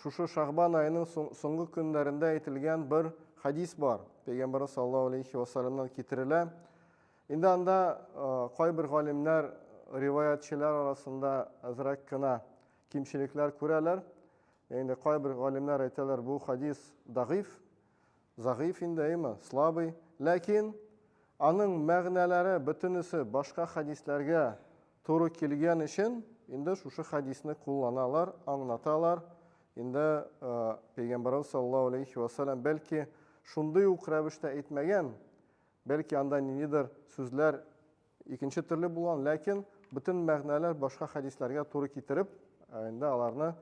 Шушы Шагбан аеның соңгы көннәрендә әйтелгән бер хадис бар. Пәйгамбәрбез саллаллаһу алейхи ва саллямнан китерелә. Инде анда кайбер галимнәр риваятчылар арасында азрак кына кимчелекләр күрәләр. Инде кайбер галимнәр әйтәләр, бу хадис дагыйф, загыйф инде, әйме, слабый. Ләкин аның мәгънәләре бөтенесе башка хадисләргә Туры килгән өчен инде шушы хәдисне кулланалар, аңлаталар. Инде пәйгамбарыбыз саллаллаһу алейхи ва саллям бәлки шундый ук рәвештә әйтмәгән, бәлки анда ниндидер сүзләр икенче төрле булган, ләкин бөтен мәгънәләр башка хәдисләргә туры китереп, инде аларны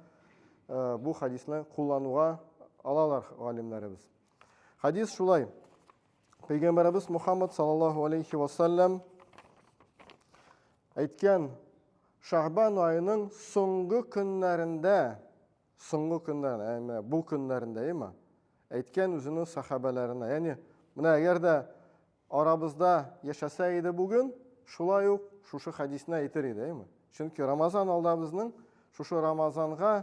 бу хәдисне куллануга алалар галимнәребез. Хәдис шулай. Пәйгамбәребез Мухаммад саллаллаху алейхи ва саллям әйткән Шәгъбан аеның соңгы көннәрендә, соңгы көннәр, әйме, бу көннәрендә, әйме, әйткән үзенең сахабәләренә. Ягъни, менә әгәр дә арабызда яшәсә иде бүген, шулай ук шушы хадисне әйтер иде, әйме. Чөнки Рамазан алда безнең, шушы Рамазанга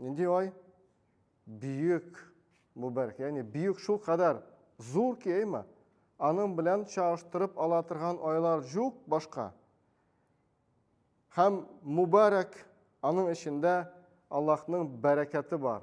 Нинди ай? Бөек мөбарәк, ягъни бөек шул кадәр зур ки, әйме? Аның белән чагыштырып ала торган айлар җук башка. Һәм мөбарәк аның эчендә Аллаһның бәрәкәте бар.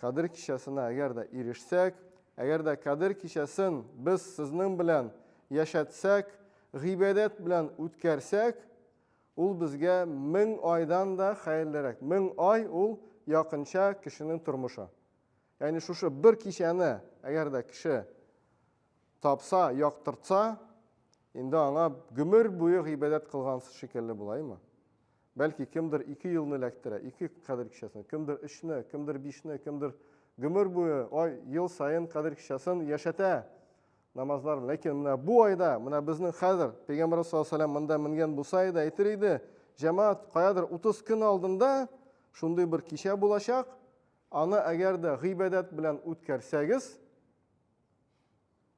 Кадер кичәсенә әгәр дә ирешсәк, әгәр дә Кадер кичәсен без сезнең белән яшәтсәк, гыйбадәт белән үткәрсәк, ул безгә мең айдан да хәерлерәк. Мең ай ул якынча кешенең тормышы. Ягъни шушы бер кичәне әгәр дә кеше тапса, яктыртса, инде аңа гомер буе гыйбадәт кылган шикелле булаймы? Бәлки, кемдер ике елны эләктерә, ике кадер кичәсен, кемдер өчне, кемдер бишне, кемдер гомер буе, ай, ел саен кадер кичәсен яшәтә намазлар. Ләкин менә бу айда, менә безнең хәзер Пәйгамбәр саллаллаху алейһи монда менгән булса иде, әйтер иде, җәмәгать, каядыр 30 көн алдында шундый бер кичә булачак, аны әгәр дә гыйбадәт белән үткәрсәгез,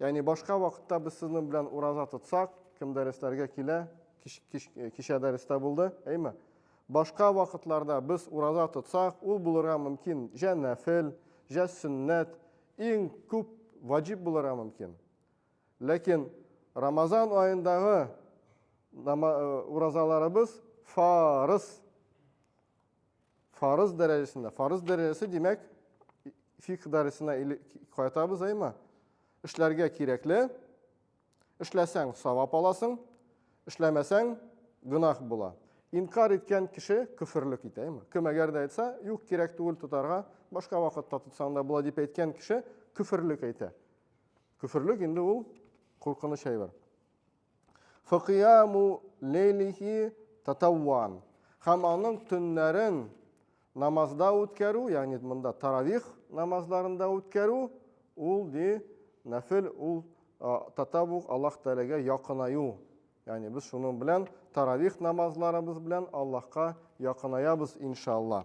Ягъни башка вакытта без сезнең белән ураза тотсак, кем дәресләргә килә, кич, кич, э, кичә дәрестә булды, әйме? Башка вакытларда без ураза тотсак, ул булырга мөмкин җә нәфел, җә сөннәт, иң күп ваҗиб булырга мөмкин. Ләкин Рамазан аендагы э, уразаларыбыз фарыз. Фарыз дәрәҗәсендә. Фарыз дәрәҗәсе, димәк, фикх дәресенә кайтабыз, әйме? Эшләргә кирәкле, эшләсәң савап аласың, эшләмәсәң гөнаһ була. Инкар иткән кеше көферлек итә, әйме? Кем әгәр дә әйтсә, юк, кирәк түгел тотарга, башка вакытта тотсаң да була дип әйткән кеше көферлек әйтә. Көферлек инде ул куркыныч әйбер. Фыкияму лейлихи татавван. Хәм аның төннәрен намазда үткәрү, ягъни монда таравих намазларында үткәрү, ул ди нәфел, ул татавух Аллаһ Тәгаләгә якынаю. Ягъни без шуның белән таравих намазларыбыз белән Аллаһка якынаябыз иншалла.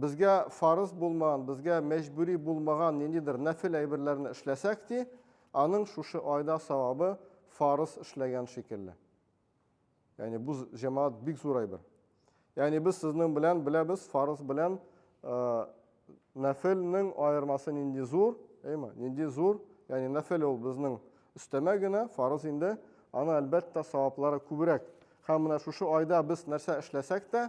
Безгә фарыз булмаган, безгә мәҗбүри булмаган ниндидер нәфел әйберләрне эшләсәк, ди, аның шушы айда савабы фарыз эшләгән шикелле. Ягъни бу җәмәгать бик зур әйбер. Ягъни без сезнең белән беләбез, фарыз белән нәфелнең аермасы нинди зур, әйме? Нинди зур? Ягъни нәфел ул безнең өстәмә генә, фарыз инде, аны әлбәттә саваплары күбрәк. Һәм менә шушы айда без нәрсә эшләсәк тә,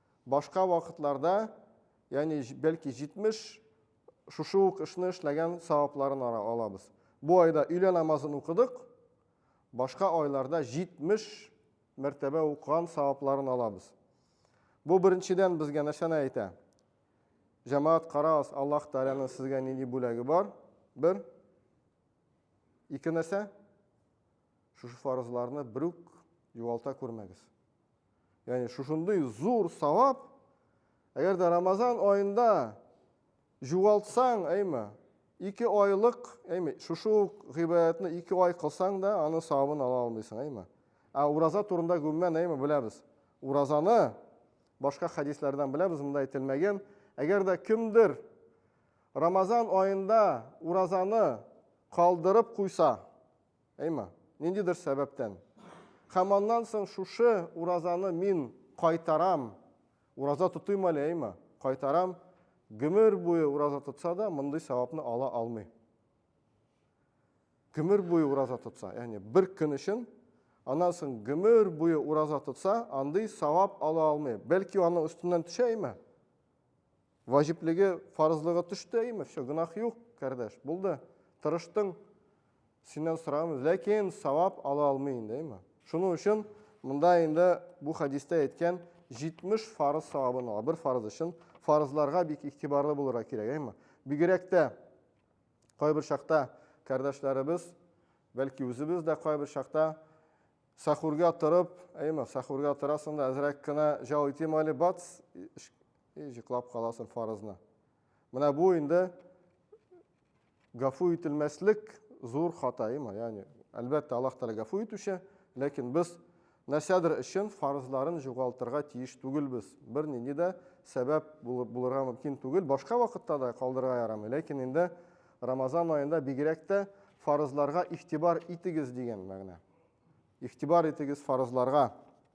Башка вакытларда, ягъни бәлки 70 шушы ук эшне эшләгән савапларын алабыз. Бу айда өйлә намазын укыдык, башка айларда 70 мәртәбә укыган савапларын алабыз. Бу беренчедән безгә нәрсәне әйтә? Җәмәгать карагыз, Аллаһ Тәгаләнең сезгә нинди бүләге бар? Бер. Ике нәрсә? Шушы фарызларны берүк югалта күрмәгез. Ягъни шушындый зур савап, әгәр дә Рамазан аенда җугалтсаң, әйме, ике айлык, әйме, шушы ук гыйбадәтне ике ай кылсаң да, аны савабын ала алмыйсың, әйме. Ә ураза турында гөммән, әйме, беләбез. Уразаны башка хәдисләрдән беләбез, монда әйтелмәгән. Әгәр дә кемдер Рамазан аенда уразаны калдырып куйса, Әйма, ниндидер сәбәптән. Һәм аннан соң шушы уразаны мин кайтарам, ураза тотыйм әле, әйма, кайтарам, гөмер буе ураза тотса да, мондый сәвапны ала алмый. Гөмер буе ураза тотса, яни бер көн өчен, аннан соң гөмер буе ураза тотса, андый савап ала алмый. Бәлки аның өстеннән төшә, әйма. Ваҗиплеге, фарызлыгы төште, әйме, все, гөнаһ юк, кардәш, булды. Тырыштың, синнән сораган, ләкин савап ала алмый инде, әйме. Шуның өчен монда инде бу хәдистә әйткән 70 фарыз савабын ала, бер фарыз өчен. Фарызларга бик игътибарлы булырга кирәк, әйме. Бигрәк тә кайбер чакта кардәшләребез, бәлки үзебез дә кайбер чакта сахурга торып, әйме, сахурга торасың да, әзрәк кенә җал итим әле, бац, И җыклап каласың фарызны. Менә бу инде гафу ителмәслек зур хата, има, ягъни, әлбәттә, Аллаһ Тәгалә гафу итүче, ләкин без нәрсәдер өчен фарызларын югалтырга тиеш түгелбез. Бернинди дә сәбәп булырга мөмкин түгел. Башка вакытта да калдырырга ярамый, ләкин инде Рамазан аенда бигрәк тә фарызларга игътибар итегез дигән мәгънә. Игътибар итегез фарызларга.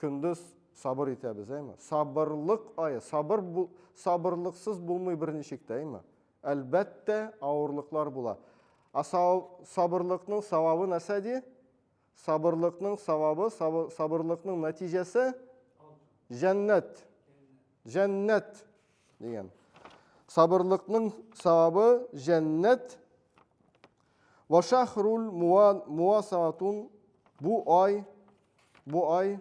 Көндез сабыр итәбез, әйме? Сабырлык ае, сабыр бу, сабырлыксыз булмый берничек тә, әйме? Әлбәттә, авырлыклар була. А сабырлыкның савабы нәрсә ди? Сабырлыкның савабы, сабырлыкның нәтиҗәсе җәннәт. Җәннәт дигән. Сабырлыкның савабы җәннәт. Ва шахрул муасаатун бу ай Бу ай,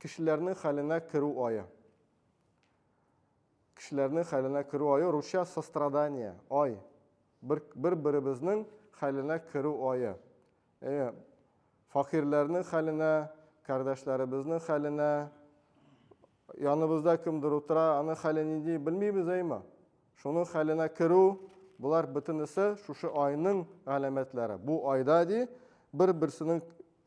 кешеләрнең хәленә керү ае. Кешеләрнең хәленә керү ае, русча, сострадание, ай. Бер, бер-беребезнең хәленә керү ае. Әйе, факирләрнең хәленә, кардәшләребезнең хәленә, яныбызда кемдер утыра, аның хәле нинди, белмибез, әйеме? Шуның хәленә керү, болар бөтенесе шушы айның галәмәтләре. Бу айда, ди, бер-берсенең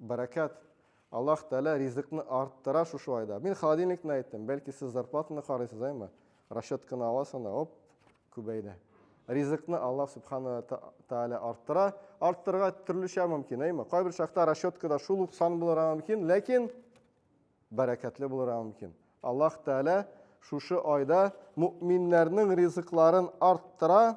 Бәрәкәт. Аллаһ Тәгалә ризыкны арттыра шушы айда. Мин холодильникны әйттем. Бәлки сез зарплатаны карыйсыз, әйме? Расчетканы аласыз анда, оп, күбәйде. Ризыкны Аллаһ Субхана Тәгалә арттыра. Арттырырга төрлечә мөмкин, әйме? Кайбер чакта расчеткада шул ук сан булырга мөмкин, ләкин бәрәкәтле булырга мөмкин. Аллаһ Тәгалә шушы айда мөминнәрнең ризыкларын арттыра.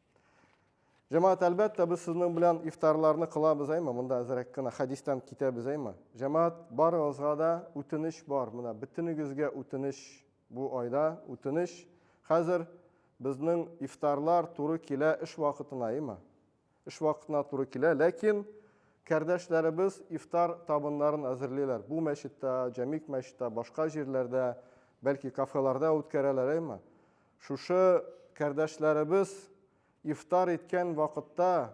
Җәмәгать, әлбәттә, без сезнең белән ифтарларны кылабыз, әйме, монда әзрәк кенә хәдистән китәбез, әйме. Җәмәгать, барыгызга да үтенеч бар, менә бөтенегезгә үтенеч бу айда, үтенеч. Хәзер безнең ифтарлар туры килә эш вакытына, әйме. Эш вакытына туры килә, ләкин кәрдәшләребез ифтар табыннарын әзерлиләр. Бу мәчеттә, Җәмик мәчеттә, башка җирләрдә, бәлки кафеларда үткәрәләр, әйме. Шушы кардәшләребез ифтар иткән вакытта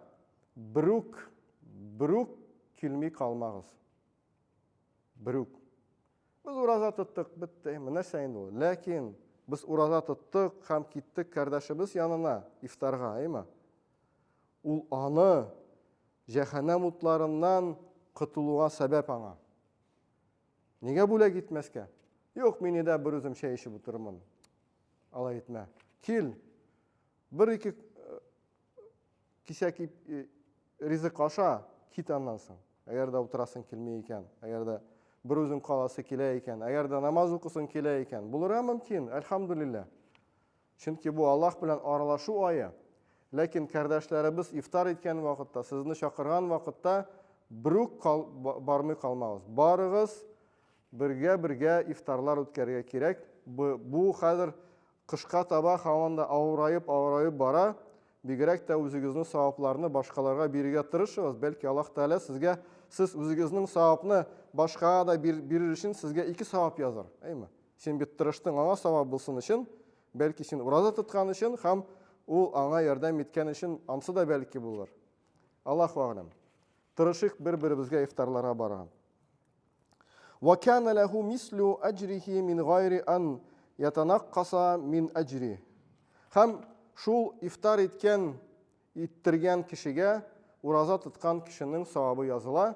берүк, берүк килми калмагыз. Берүк. Без ураза тоттык, бетте. Нәрсә инде ул? Ләкин без ураза тоттык һәм киттек кардәшебез янына ифтарга, әйме? Ул аны җәһәннәм утларыннан котылуга сәбәп аңа. Нигә бүләк итмәскә? Юк, мин өйдә берүзем чәй эчеп утырырмын. Алай итмә. Кил. Бер-ике э, кисәк э, ризык аша, кит аннан соң. Әгәр дә утырасың килми икән, әгәр дә берүзең каласы килә икән, әгәр дә намаз укысың килә икән, булырга мөмкин, әлхамдулилла. Чөнки бу Аллаһ белән аралашу ае. Ләкин кардәшләребез ифтар иткән вакытта, сезне чакырган вакытта берүк кал, бармый калмагыз. Барыгыз, бергә-бергә ифтарлар үткәрергә кирәк. Бу, бу хәзер кышка таба һаман да авыраеп-авыраеп бара. Бигрәк тә үзегезнең савапларны башкаларга бирергә тырышыгыз. Бәлки Аллаһ Тәгалә сезгә сез үзегезнең савапны башкага да бирер өчен сезгә ике савап язар, әйме? Син бит тырыштың аңа савап булсын өчен, бәлки син ураза тоткан өчен һәм ул аңа ярдәм иткән өчен ансы да бәлки булыр. Аллаһу а'лам. Тырышыйк бер-беребезгә ифтарларга барган. Ва кана лаху мислу аҗрихи мин гайри ан ятанаккаса мин аҗри. Һәм шул ифтар иткән иттергән кешегә ураза тоткан кешенең савабы языла,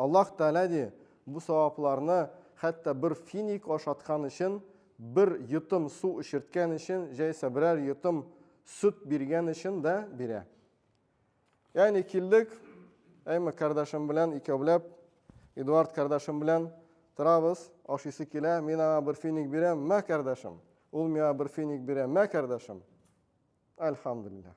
Аллаһ Тәгалә ди, бу савапларны хәтта бер финик ашаткан өчен, бер йотым су эчерткән өчен, җәйсә берәр йотым сөт биргән өчен дә бирә. Ягъни килдек, Әйме кардашым белән икәүләп, Эдуард кардашым белән торабыз, ашыйсы килә, мин аңа бер финик бирәм, мә кардашым. Ул миңа бер финик бирә, мә кардашым. Альхамдулиллах.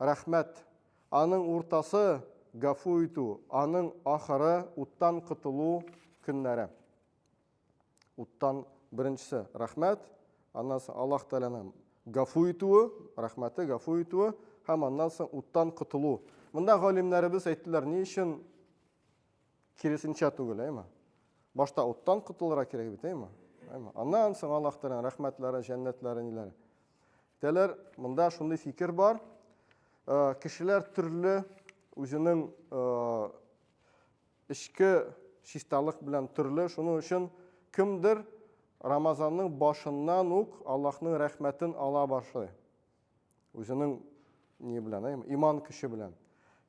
Рәхмәт. Аның уртасы, гафу итү, аның ахыры, уттан котылу көннәре. Уттан беренчесе, рәхмәт, аннан соң Аллаһ Тәгаләнең гафу итүе, рәхмәте, гафу итүе һәм аннан соң уттан котылу. Монда галимнәребез әйттеләр, ни өчен Киресенчә түгел, әйме? Башта уттан котылырга кирәк бит, әйме? Әйме? Аннан соң Аллаһ Тәгаләнең рәхмәтләре, җәннәтләре ниләр? Тәләр, монда шундый фикер бар. Э, кешеләр төрле үзенең э, эчке чисталык белән төрле. Шуның өчен кемдер Рамазанның башыннан ук Аллаһның рәхмәтен ала башлый. Үзенең ни белән, ә? Иман көче белән.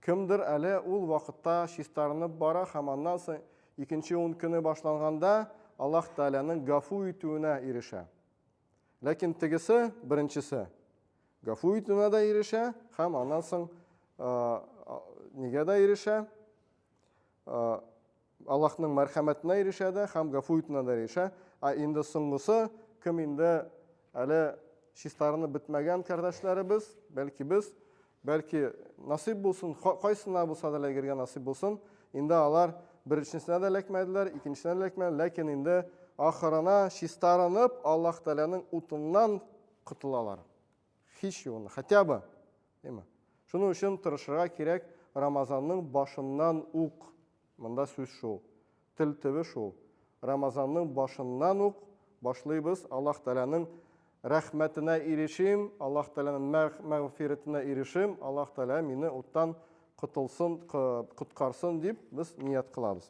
Кемдер әле ул вакытта чистарынып бара һәм аннан соң икенче ун көне башланганда Аллаһ Тәгаләнең гафу итүенә ирешә. Ләкин тегесе, беренчесе, гафу итүенә дә ирешә һәм аннан соң нигә дә ирешә? Аллаһның мәрхәмәтенә ирешә дә һәм гафу итүенә дә ирешә. Ә инде соңгысы, кем инде әле чистарынып бетмәгән кардәшләребез, бәлки без, бәлки насыйп булсын, кайсына булса да эләгергә насыйп булсын. Инде алар беренчесенә дә эләкмәделәр, икенчесенә дә эләкмәделәр, ләкин инде ахырына чистарынып, Аллаһ Тәгаләнең утыннан котылалар. Һич югында, хотя бы, димме? Шуның өчен тырышырга кирәк, Рамазанның башыннан ук, монда сүз шул, тел төбе шул, Рамазанның башыннан ук башлыйбыз, Аллаһ Тәгаләнең рәхмәтенә ирешим, Аллаһ Тәгаләнең мәгъфирәтенә ирешим, Аллаһ Тәгалә мине уттан котылсын, коткарсын дип без ният кылабыз.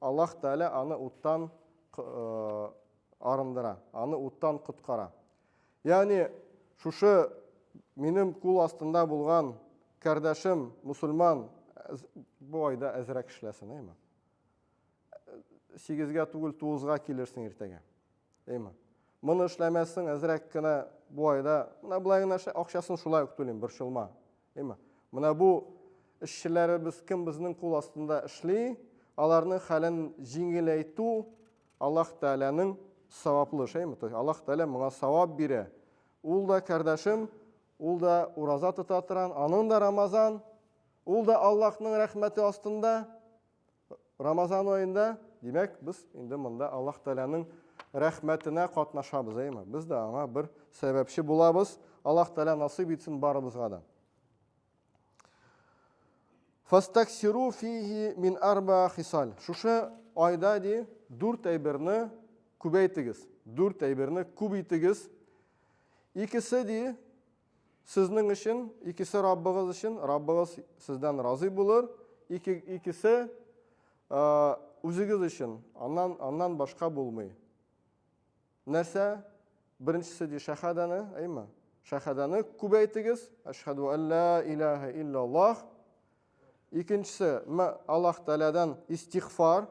Аллаһ Тәгалә аны уттан арындыра, аны уттан коткара. Ягъни, шушы минем кул астында булган кардәшем мусульман бу айда әзрәк эшләсен, әйме? Сигезгә түгел, тугызга килерсең иртәгә. Әйме? Моны эшләмәссең, әзрәк кенә бу айда, менә болай гына акчасын шулай ук түлим, борчылма. Әйма. Менә бу эшчеләребез кем безнең кул астында эшли, аларның хәлен җиңеләйтү Аллаһ Тәгаләнең саваплы шәйме? То есть Аллаһ Тәгалә моңа савап бирә. Ул да кардәшем, ул да ураза тота торган, аның да Рамазан, ул да Аллаһның рәхмәте астында. Рамазан аенда, димәк, без инде монда Аллаһ Тәгаләнең рәхмәтенә катнашабыз, әйме? Без дә аңа бер сәбәпче булабыз. Аллаһ Тәгалә насыйп итсен барыбызга да. Фастаксиру фиһи мин арба хисал. Шушы айда ди, дүрт әйберне күбәйтегез. Дүрт әйберне күп итегез. Икесе ди, Сезнең өчен, икесе Раббыгыз өчен, Раббыгыз сездән разый булыр, ике, икесе үзегез өчен, аннан, аннан башка булмый. Нәрсә? Беренчесе ди шәһадәне, әйме? Шәһадәне күбәйтегез, әшһәду алла илаһа иллаллах. Икенчесе, Аллаһ Тәгаләдән истигъфар,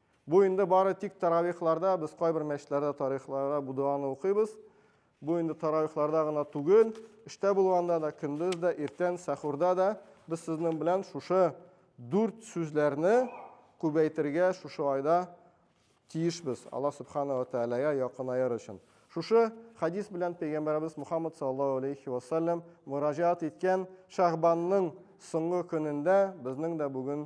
Бу инде бары тик таравихларда, без кайбер мәчетләрдә тарихларда бу дуаны укыйбыз. Бу инде таравихларда гына түгел, эштә булганда да, көндез дә, иртән, сәхурда да без сезнең белән шушы дүрт сүзләрне күбәйтергә шушы айда тиешбез, Аллаһ Субхана ва Тәгаләгә якынаер өчен. Шушы хадис белән пәйгамбәребез Мухаммад саллаллаһу алейхи ва саллям мөрәҗәгать иткән Шәгъбанның соңгы көнендә безнең дә бүген